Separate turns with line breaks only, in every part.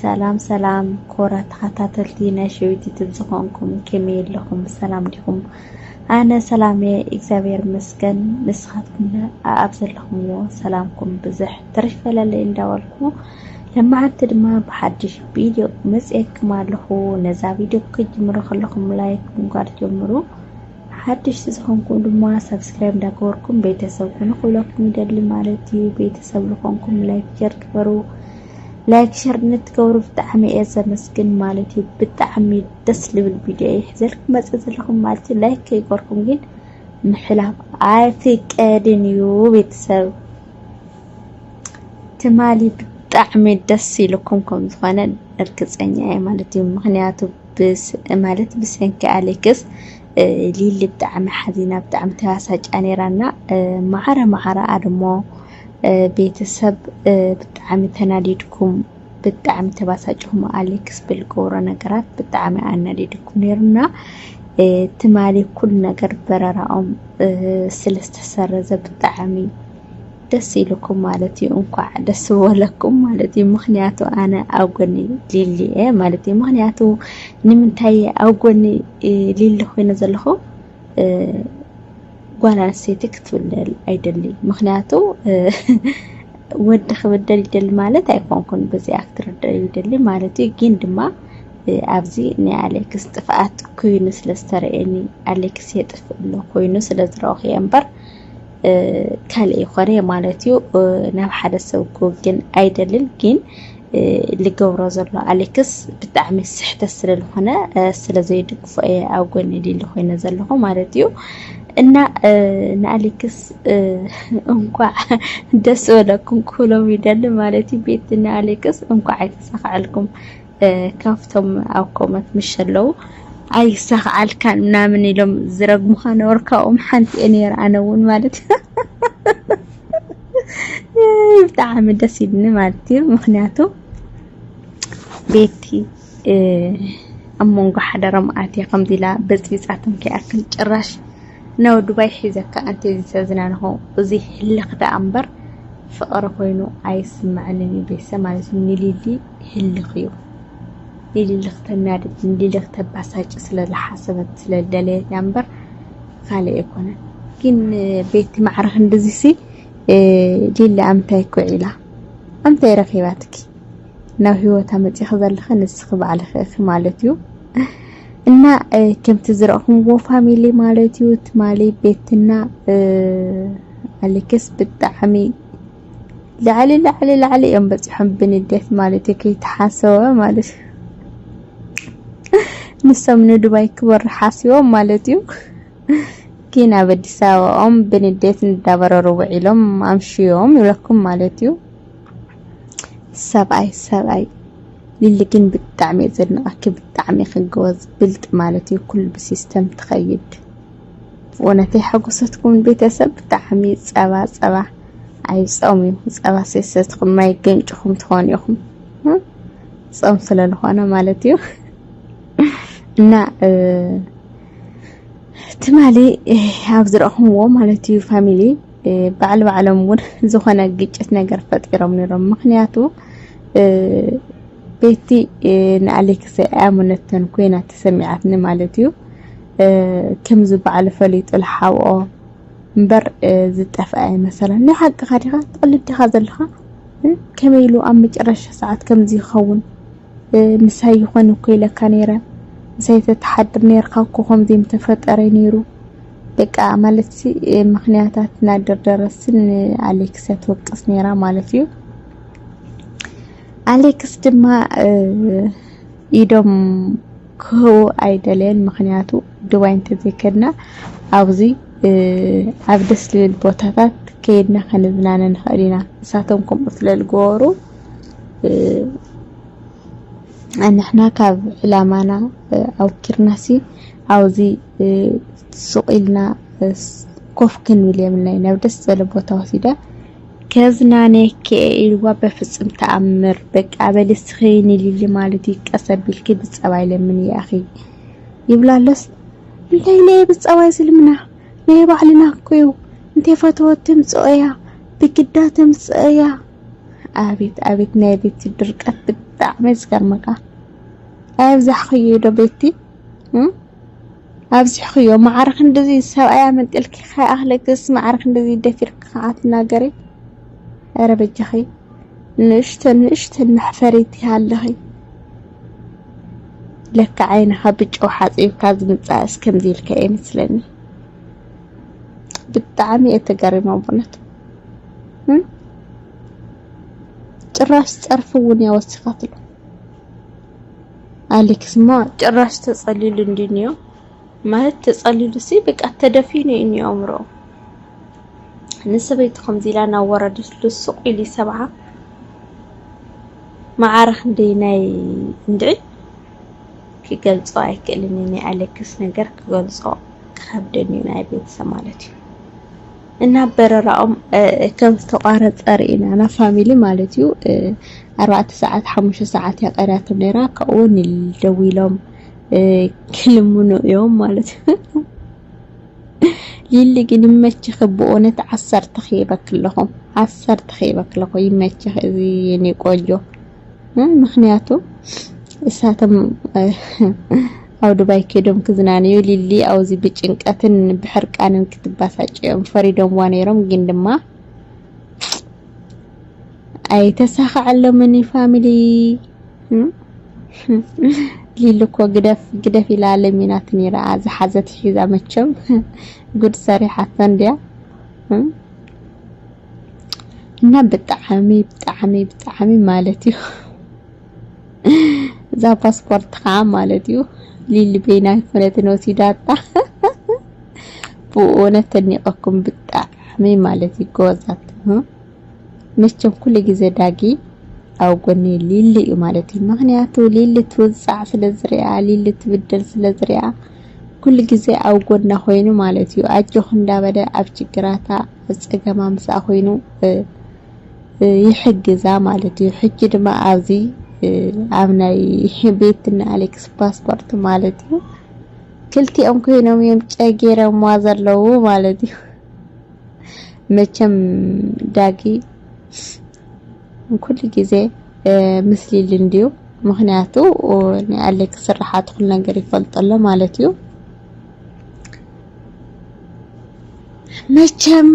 ሰላም ሰላም ኮራት ተኸታተልቲ ናይ ሸዊት ዩቱብ ዝኾንኩም ከመይ ኣለኹም ብሰላም ዲኹም ኣነ ሰላም እየ እግዚኣብሔር ይመስገን ንስኻትኩም ኣብ ዘለኹምዎ ሰላምኩም ብዝሕ ትርፍ በለለይ እንዳበልኩ ለማዓንቲ ድማ ብሓድሽ ቪድዮ መፅኤክም ኣለኹ ነዛ ቪድዮ ክጅምሩ ከለኹም ላይክ ምንኳር ጀምሩ ሓደሽቲ ዝኾንኩም ድማ ሳብስክራይብ እንዳገበርኩም ቤተሰብ ኩኑ ክብለኩም ይደሊ ማለት እዩ። ቤተሰብ ዝኾንኩም ላይክ ሸር ግበሩ። ላይክ ሸር ንትገብሩ ብጣዕሚ እየ ዘመስግን ማለት እዩ። ብጣዕሚ ደስ ልብል ቪድዮ እየ ሒዘልኩም መፅእ ዘለኹም ማለት እዩ። ላይክ ከይገርኩም ግን ምሕላፍ ኣይፍቀድን እዩ ቤተሰብ ትማሊ ብጣዕሚ ደስ ኢልኩም ከም ዝኾነ እርግፀኛ እየ ማለት እዩ። ምክንያቱ ማለት ብሰንኪ ኣሌክስ ሊሊ ብጣዕሚ ሓዚና ብጣዕሚ ተባሳጭያ ነይራ እና ማዕረ ማዕረ ኣድሞ ቤተሰብ ብጣዕሚ ተናዲድኩም ብጣዕሚ ተባሳጭኹም ኣሌክስ ብልገብሮ ነገራት ብጣዕሚ ኣናዲድኩም ነይሩና ትማሊ ኩሉ ነገር በረራኦም ስለ ዝተሰረዘ ብጣዕሚ ደስ ኢሉኩም ማለት እዩ እንኳዕ ደስ በለኩም ማለት እዩ ምክንያቱ ኣነ ኣብ ጎኒ ሊሊ እየ ማለት እዩ ምክንያቱ ንምንታይ ኣብ ጎኒ ሊሊ ኮይነ ዘለኹ ጓል ኣንስተይቲ ክትብደል ኣይደሊ ምክንያቱ ወዲ ክብደል ይደሊ ማለት ኣይኮንኩን በዚኣ ክትርዳእ ይደሊ ማለት እዩ ግን ድማ ኣብዚ ናይ ኣሌክስ ጥፍኣት ኮይኑ ስለ ዝተረእየኒ ኣሌክስ የጥፍእ ኣሎ ኮይኑ ስለ ዝረኣኹ እየ እምበር ካልእ ይኾነ ማለት እዩ ናብ ሓደ ሰብ ክውግን ኣይደልን ግን ልገብሮ ዘሎ ኣሌክስ ብጣዕሚ ስሕተት ስለዝኾነ ስለዘይድግፎ እየ ኣብ ጎኒ ሊሊ ኮይነ ዘለኹ ማለት እዩ እና ንኣሌክስ እንኳዕ ደስ በለኩም ክብሎም ይደሊ ማለት እዩ ቤት ንኣሌክስ እንኳዕ ኣይተሳካዐልኩም ካብቶም ኣብ ኮመት ምሸለው ኣይሳኽዓልካን ምናምን ኢሎም ዝረግሙኻ ነበር ካብኦም ሓንቲ እየ ነይረ ኣነ እውን ማለት ብጣዕሚ ደስ ኢልኒ ማለት እዩ ምክንያቱ ቤቲ ኣብ መንጎ ሓደረ መኣት እያ ከምዚ ኢላ በፅቢፃቶም ከይኣክል ጭራሽ ናብ ዱባይ ሒዘካ ኣንቲ እዚ ተዝናንኾ እዚ ህልኽ ደኣ እምበር ፍቕሪ ኮይኑ ኣይስምዐንን እዩ ቤተሰብ ማለት እዩ ንሊሊ ህልኽ እዩ። ንልልኽ ተናድድ ንልልኽ ተባሳጭ ስለ ዝሓሰበት ስለ ዝደለየት እያ እምበር ካልእ ኣይኮነን። ግን ቤቲ ማዕረ ክንድዚሲ ሊሊ ኣምታይ ኩዒላ ኣምታይ ረኺባትኪ ናብ ህይወታ መጺኺ ዘለኺ ንስኺ ባዕልኺ እኺ ማለት እዩ እና ከምቲ ዝረእኹምዎ ፋሚሊ ማለት እዩ ትማሊ ቤትና ኣሌክስ ብጣዕሚ ላዕሊ ላዕሊ ላዕሊ እዮም በፂሖም ብንዴት ማለት እዩ ከይተሓሰበ ማለት እዩ ንሶም ንዱባይ ክበሩ ሓሲቦም ማለት እዩ ግን ኣብ ኣዲስ ኣበባኦም ብንዴት እንዳበረሩ ውዒሎም ኣምሽዮም ይብለኩም ማለት እዩ ሰብኣይ ሰብኣይ ሊሊ ግን ብጣዕሚ እየ ዘድንቐኪ ብጣዕሚ ክግወዝ ብልጥ ማለት እዩ ኩሉ ብሲስተም ትኸይድ ወነተ ሓጎሰትኩም ቤተሰብ ብጣዕሚ ጸባ ጸባ ኣይ ጾም እዩ ጸባ ሰሰትኩም ማይ ገንጭኹም ትኾኑ ኢኹም ጾም ስለ ዝኾነ ማለት እዩ እና ትማሊ ኣብ ዝረእኹምዎ ማለት እዩ ፋሚሊ ባዕል ባዕሎም እውን ዝኾነ ግጭት ነገር ፈጢሮም ነይሮም ምክንያቱ ቤቲ ንኣሌክሰ ኣያሙነተን ኮይና ተሰሚዓትኒ ማለት እዩ ክምዚ ባዕሉ ፈሊጡ ልሓብኦ እምበር ዝጠፍአ ኣይመሰለን። ናይ ሓቅኻ ዲኻ ትቕልድ ዲኻ ዘለኻ ከመይ ኢሉ ኣብ መጨረሻ ሰዓት ከምዚ ይኸውን ምሳይ ይኾን እኮ ኢለካ ነይረ ምሳይ ተተሓድር ነይርካ እኮ ከምዚ ምተፈጠረ ነይሩ በቃ ማለት ሲ ምክንያታት እናደርደረስን ኣሌክስ ትወቅስ ነይራ ማለት እዩ ኣሌክስ ድማ ኢዶም ክህቦ ኣይደለየን ምኽንያቱ ዱባይ እንተዘይከድና ኣብዚ ኣብ ደስ ልብል ቦታታት ከይድና ከንዝናነ ንኽእል ኢና ንሳቶም ከምኡ ስለ ዝገበሩ ንሕና ካብ ዕላማና ኣውኪርናሲ ኣብዚ ሱቕ ኢልና ኮፍ ክንብል የብልናይ ናብ ደስ ዝበለ ቦታ ወሲዳ ከዝናነኪ እየ ኢልዋ በፍጽም ተኣምር በቃ በሊ እስኺ ንሊሊ ማለት እዩ ቀስ ኣቢልኪ ብጸባይ ለምንያ ኣኺ ይብላ ኣሎስ እንታይ ኢለ እየ ብጸባይ ዝልምና ናይ ባዕልና እኮ እዩ እንተ ፈተወት ትምጽኦ እያ ብግዳ ትምጽእ እያ ኣቤት ኣቤት ናይ ቤቲ ድርቀት ብጣዕሚ ዝገርመካ ኣብዛሕክዮ ዶ ቤቲ ኣብዚሕኽዮ ማዕረ ክንድዚ ሰብኣይ ኣመንጢልኪ ከይኣኽለክስ ማዕረ ክንድዚ ደፊርኪ ከዓ ትናገሪ ኧረ በጃኺ ንእሽተን ንእሽተን መሕፈሪት ይሃለኺ ለካ ዓይንኻ ብጨው ሓፂብካ ዝምፃእስ ከምዚ ኢልካ እየ መስለኒ ብጣዕሚ እየ ተገሪመ ብእውነት ጭራሽ ፀርፊ እውን እያ ወሲኻትሉ ኣሌክስማ ጭራሽ ተጸሊሉ እንዲ እንዮ ማለት ተጸሊሉሲ በቃ ተደፊኑ እዩ እንዮ ኣእምሮኡ ንሰበይቱ ከምዚ ኢላ እናወረደትሉ ሱቕ ኢሉ ይሰብዓ መዓረ ክንደይ ናይ እንድዒ ክገልጾ ኣይክእልን ናይ ኣሌክስ ነገር ክገልጾ ክኸብደኒ እዩ ናይ ቤተሰብ ማለት እዩ እና በረራኦም ከም ዝተቋረጸ ርኢና ናብ ፋሚሊ ማለት እዩ ኣርባዕተ ሰዓት ሓሙሽተ ሰዓት እያ ቀርያቶም ነይራ ካብኡ ንደዊሎም ክልምኑ እዮም ማለት ሊሊ ግን ይመችኺ ብእውነት ዓሰርተ ኺበክለኹም ዓሰርተ ኺበክለኹ ይመችኺ እዚ የኔ ቆንጆ ምክንያቱ እሳቶም ኣብ ዱባይ ከይዶም ክዝናንዩ ሊሊ ኣብዚ ብጭንቀትን ብሕርቃንን ክትባሳጭዮም ፈሪዶምዋ ነይሮም። ግን ድማ ኣይተሳኸዐሎምን ፋሚሊ ሊሊ እኮ ግደፍ ግደፍ ኢላ ለሚናት ነይራ ዝሓዘት ሒዛ መቸም ጉድ ሰሪሓቶ እንድያ እና ብጣዕሚ ብጣዕሚ ብጣዕሚ ማለት እዩ እዛ ፓስፖርት ከዓ ማለት እዩ ሊሊ ቤና ይኮነትን ወሲዳታ ብእውነት ተኒቀኩም ብጣዕሚ ማለት እዩ ጎበዛት መቸም ኩሉ ግዜ ዳጊ ኣብ ጎኒ ሊሊ እዩ ማለት እዩ ምክንያቱ ሊሊ ትውፃዕ ስለዝሪኣ ሊሊ ትብደል ስለዝሪኣ ኩሉ ግዜ ኣብ ጎና ኮይኑ ማለት እዩ ኣጆክ እንዳበለ ኣብ ችግራታ ጸገም ኣምሳኣ ኮይኑ ይሕግዛ ማለት እዩ ሕጂ ድማ ኣብዚ ኣብ ናይ ቤትና ኣሌክስ ፓስፖርት ማለት እዩ ክልቲኦም ኮይኖም እዮም ጨጌረማ ዘለዉ ማለት እዩ መቸም ዳጊ ኩሉ ግዜ ምስሊ ልንድዩ ምክንያቱ ናይ ኣሌክስ ስራሓት ኩሉ ነገር ይፈልጠሎ ማለት እዩ መቸም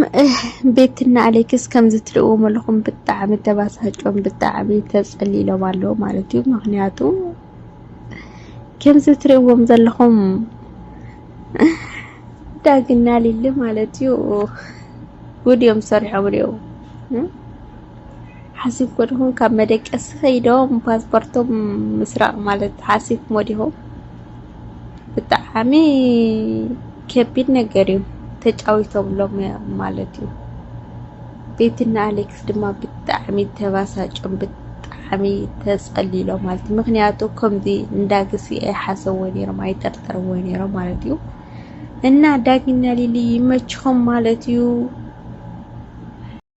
ቤትና ኣሌክስ ከምዚ ትርእዎም ኣለኹም ብጣዕሚ ተባሳጮም ብጣዕሚ ተጸሊሎም ኣለዉ ማለት እዩ ምክንያቱ ከምዚ ትርእዎም ዘለኹም ዳግና ሊሊ ማለት እዩ ጉድ እዮም ሰሪሖም ሪኦ ሓሲብ ኮድኹም ካብ መደቀሲ ከይዶም ፓስፖርቶም ምስራቅ ማለት ሓሲብ ሞዲኹም ብጣዓሚ ከቢድ ነገር እዩ ተጫዊቶምሎም እዮም ማለት እዩ ቤትና ኣሌክስ ድማ ብጣዕሚ ተባሳጭም ብጣዕሚ ተጸሊሎ ማለት እዩ ምክንያቱ ከምዚ እንዳግሲ ኣይሓሰብዎ ነይሮም ኣይጠርጠርዎ ነይሮም ማለት እዩ እና ዳጊና ሊሊ ይመችኹም ማለት እዩ